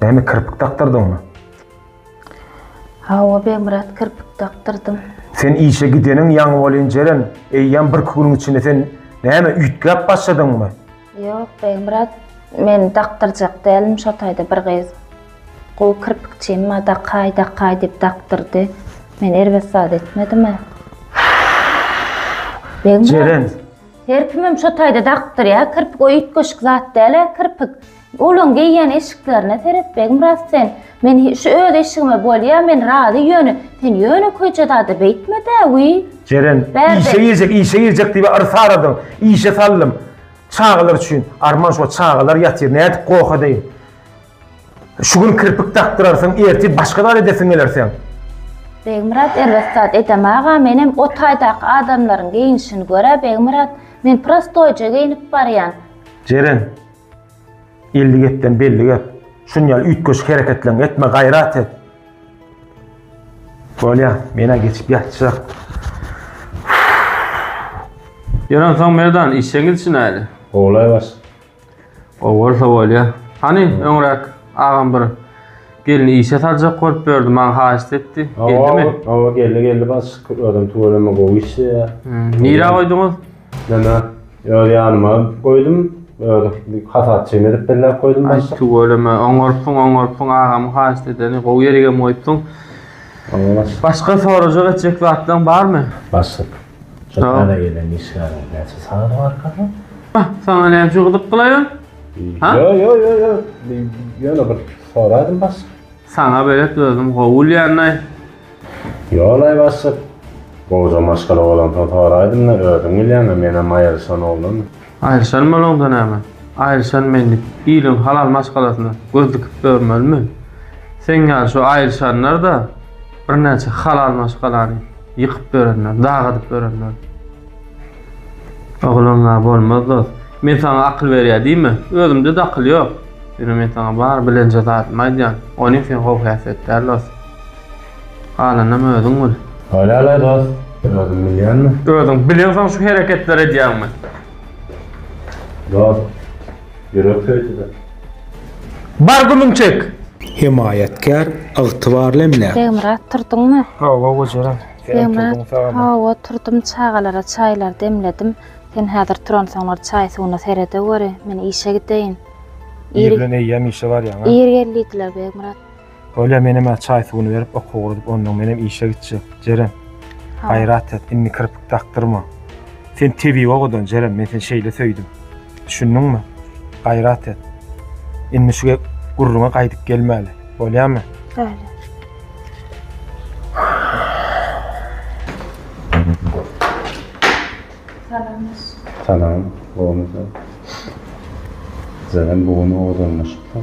Näme kirpik dakdyrdyňmy? Hawa, Begmyrat, kirpik dakdyrdym. Sen işe gideniň ýaňy bolýan Jeren, eýýäm birki günüň içinde sen näme üýtgäp başladyňmy? Ýok, Begmyrat, men dakdyrjak dälim, şo taýda bir gyz gowy kirpikçi emma dakaý, dakaý diýip dakdyrdy. Men erbet zat etmedim-ä. Begmyrat. Jeren. Her kimem şo taýda dakdyrýar, kirpik o üýtgeşik zat däl-ä kirpik. Olaň geýýän eşiklerine seret, Begmyrat sen. Men şu öz eşigime bolýa, men razy ýöne, sen ýöne köje zady beýtme-dä, wiý. Jeren, işe girjek, işe girjek diýip yrsy aradym, işe saldym. Çagalar üçin. Arman şo çagalar ýatyr, nädip goh edeýin. Şu gün kirpik dakdyrarsyň, ertir başga zat edesiň geler seň. Begmyrat erbet zat edem aga, menem o taýdaky adamlaryň geýinişini görä, Begmyrat, men prostoýja geýnip barýan. Jeren. Elli gepden belli gep. Şun ýaly üýtgeşik hereketleň etme gaýrat et. Bolýa, mena geçip ýatjak. Ýören soň Merdan işe gidişin äli. Golaý baş. O bolsa bolýa. Hany öňräk agam bir gelni işe saljak bolup ýördi, maňa haýyşt etdi. Geldimi? Owa, geldi geldi baş. Adam tüweleme gowy işleýär. Nirä goýduňyz? Mena öz ýanyma goýdum. Özi bir hasapçym edip belläp goýdum Aý başlyk. tüweleme, oňarypsyň, oňarypsyň, agamyň haýyşt edeni, gowy ýerigem goýupsyň. Oňa baş. Başga sorajak etjek zatlaň barmy? Başlyk. Şu Sag ol. täze gelen işgäriň näçe sany barka? Hah, saňa näçe gyzyk gylaýan? Ha? Ýo, ýo, ýo, ýo. Bir- Ýöne bir soradym başlyk. Saňa belet özüm gowy bilýän-aý. Ýol-aý bassyp, gowja maşgala bolansoň soraýdym-da, özüň bilýäň-ä, menem aýryşan oglan. Aýryşan bolaňda näme? Aýryşan men diýip, iliň halal maşgalasyna göz dikip ýörmelimi? Seň ýaly şu aýryşanlar-da birnäçe halal maşgalany ýykyp ýörenler, dag adyp ýörenler. Oglan-a bolmaz dost. Men saňa akyl berýä diýme. Özümde-de akyl ýok. Ýöne men saňa bar bilenje zadymy aýdýan. Ony sen gowy häsiýet däl dost. Galanam özüň bil. Bolýarlaý dost, özüň bilýänmi? Özüň bilensoň şu hereketleri edýäňmi? Dost, ýürek söýdüde. Bar gümüň çek! Hemaýatkär, ygtybarly emläk. Begmyrat, turduňmy? Hawa, gojaram. Senem turduň, sagama. Hawa, turdum, çagalara çaýlary demledim. Sen häzir turansoňlar çaý-suwuna seredeweri, men işe gideýin. Ir bilen eýýäm işe barýaň-a? Ir geldidiler, Begmyrat. Bolýa menem-ä çaý suwuny berip oka ugradip ondan menem işe gitjek. Jeren. Gaýrat et, indi kirpik dakdyrma. Sen tebigy owadan Jeren, men seni şeýle söýdüm. Düşündiňmi? Gaýrat et. Indi şu gürrüňe gaýdyp gelmäli. Bolýamy? Bolýa. Salam, gowmy sen? Jeren bu gün owadanlaşypdyr.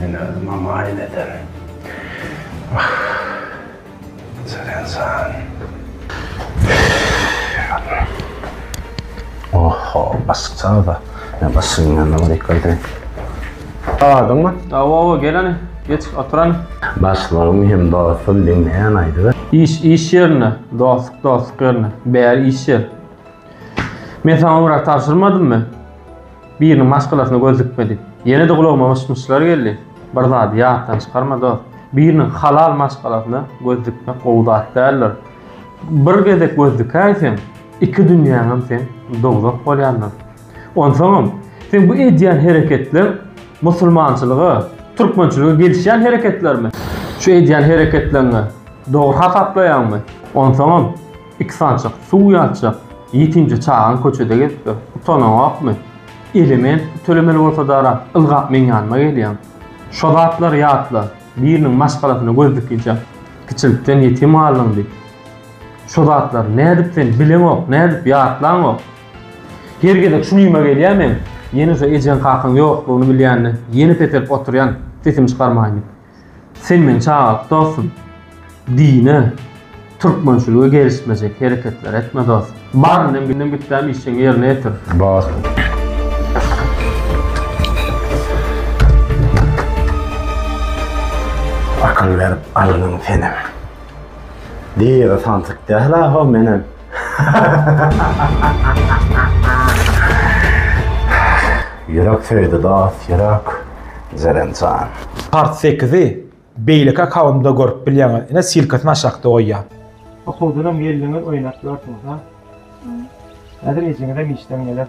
Men özüm amaýyn eden. Wah. Seren san. Oho, bassyk çagda. Men bassygyň ýanyna baryp gaýdaýyn. Adyňmy? Awa-awa, gel hany. Geç, otur hany. Başlygym hem dostum diňleýän aýdyber. Iş iş ýerinde, dostluk dostluk ýerinde. Bäri iş ýer. Men saňa urak tabşyrmadymmy? Biriniň maşgalasyna göz dikmedik. Ýene-de gulagyma myş-myşlar geldi. Bir zady ýatdan çykarma, dost. Biriniň halal maşgalasyna göz dikmek gowy zat däldir. Bir gezek göz dikäýseň, iki dünýäňem seň dowzah bolýandyr. Onsoňam, seň bu edýän hereketleň musulmançylyga, türkmençilige gelişýän hereketlermi? Şu edýän hereketleňi dogry hasaplaýaňmy? Onsoňam, Iki sanjak suw ýatjak ýetimje çagaň köçede gezip ýör. Utanaňokmy? Element pul tölemeli bolsadara ylgap meň ýanyma gelýäň. Şo zatlary ýatla, biriniň maşgalasyna göz dikinçe kiçilikden ýetim galdyň diýip. Şo zatlary nädip sen bileňok, nädip ýatlaňok? Her gezek şu güýme gelýän men, ýene şo ejeň-kakaň ýoklugyny bilýän-de, ýene peselip oturýan, sesim çykarmaýyn diýip. Sen meni çagalyk dostum. Dine, türkmençilige gelişmejek hereketler etme dos. Bar indem gündem gitdäm işjeňi ýerine ýetir. Bar. Akyl berip algyn senem. Diýere samsyk däl aho menem. Ýürek söýdi dost ýürek Jeren jan. Part sekizi beýleki akawundymda görüp bilýäňiz ine silkasyny aşakda goýýan. Okuwdanam geldiňiz oýnap ýörsüňiz ha. Häzir ejeňizem işden geler.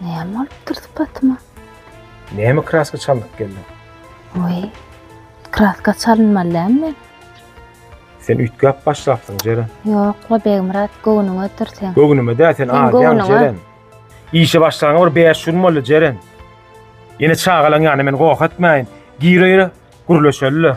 Näme bolupdyr sypatyma? Näme kraska çalnyp geldiň? Oý, kraska çalynmaly dämi men? Sen üýtgäp başlapsyň, Jeren. Ýok-la, Begmyrat, göwnüňe otur sen. Göwnüme dä, sen Sen adýaň, göwnüňe. Jeren. Işe başlanyňa bir bäş gün boldy, Jeren. Ýene çagalaň ýanyna meni goh etmäýin. Gire-gire gürleşeli-le.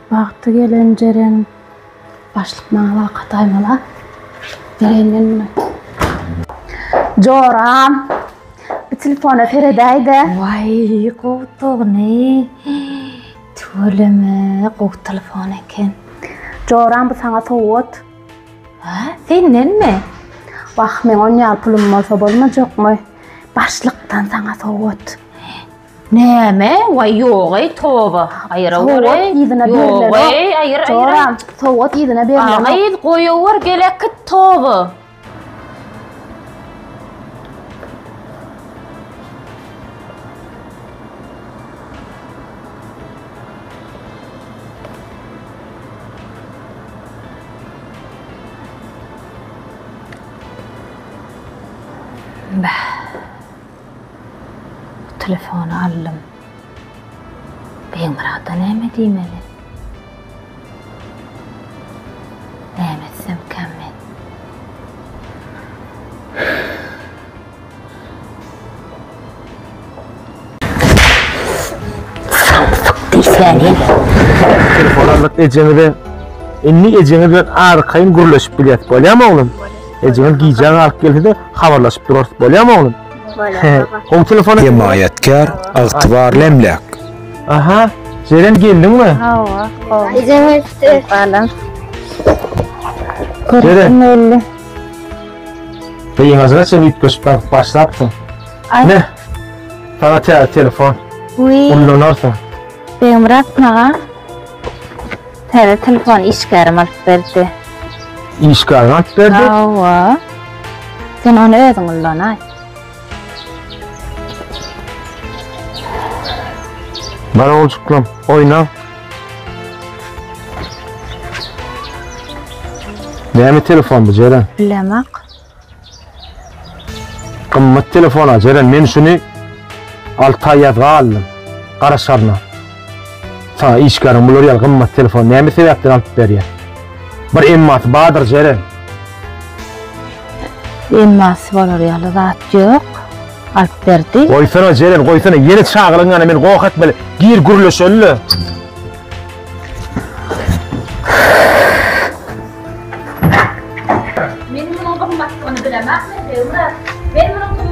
Wagty gelen Jeren başlyk maňa waka taýmala. Bereýin men muny. Joram. Bir telefona seredäýde. Waý, gowudygyny. Tüweleme, gowy telefon eken. Joram bu saňa sowgat. Hä, sendenmi? Wah, meň on ýaly pulum bolsa bolmajakmy? Başlykdan saňa sowgat. Näme? Waý ýogeý toba. Aýyra Sowgat göreý. yzyna berilere. Ýogeý aýyr aýyr. Joram, sowgat yzyna berilere. Agyz goýawar gelekit toba. Bäh. Bu telefony aldym. Begmyrada näme diýmeli? Näme etsemkäm men? Samsyk diýsä nirä? Ejeňize indi ejeňiz bilen arkaýyn gürleşip bilýärsiz, bolýamy oglum? Ejeňiz gijä galyp gelse-de habarlaşyp durarys, bolýamy oglum? Bolýar baba. Gowy telefon. Hemaýatkär, ygtybarly emläk. Aha, Jeren geldiňmi? Hawa, gowy. Ejeň öýtdi. Balam. Görüşim belli. Gyňazyna çen üýtgeşip galyp başlapsyň. Ay. Ne? Sana te telefon. Uy. Ullanarsyň. Beýmyrat maga. Täze telefony işgärim alyp berdi. Işgäriň alyp berdi? Hawa. Sen ony özüň ullanaý. Bar oljuklam, oýna. Näme telefon bu Jeren? Bilemok. Gymmat telefona Jeren men şuny alty aý ýazga aldym garaşaryna saňa işgäriň bular ýaly gymmat telefony näme sebäpden alyp berýär bir emmasy bardyr Jeren. Emmasy bolar ýaly zat ýok alyp berdi. Goýsana Jeren goýsana ýene çagylygyň ýanyna meni goh etmeli gir gürleşeli.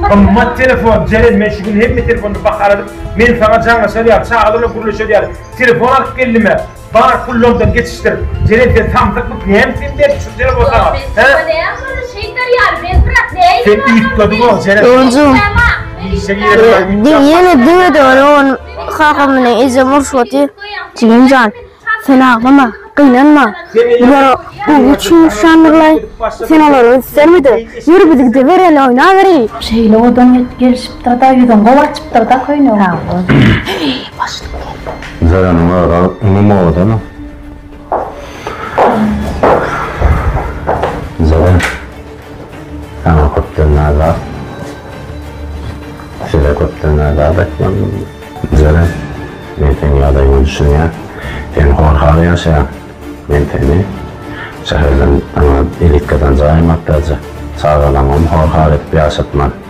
Gymmat telefon, Jeren, men şu gün hemme telefony bahaladyp, men sana jaňlaşar ýaly, çagalarla gürleşer ýaly, telefon alyp geldim-ä. Bar pullardan geçişdir. Jeren, sen samsykmyk, näme sen berip şu telefon sana? Sen üýtgediň o, Jeren. Öňjüm. Ýene düwedi onu, on. Kaka meni ejem urşup otyrdy. Jigim jan, sen aglama, gynanma. Bular gowy üçin urşandyr-laý. Sen olara üns berme-de, ýör biz gidebereli, oýnabereýin. Şeýle odan ýetip gelişipdir-de, ýüzün gowy açypdyr-da köýnegiň. Sag bol. Heý, başlyk geldi. Zereniň özi inim owadan-a. Zeren. Saňa köpden azat. Size köpden azat aýtmalydym. Jere, men seň ýagdaýyňa düşünýän. Sen horhal ýaşaýaň. Men seni şäherden saňa elit gazanja aýmakdaja. Çagalaňam horhal edip ýaşatman.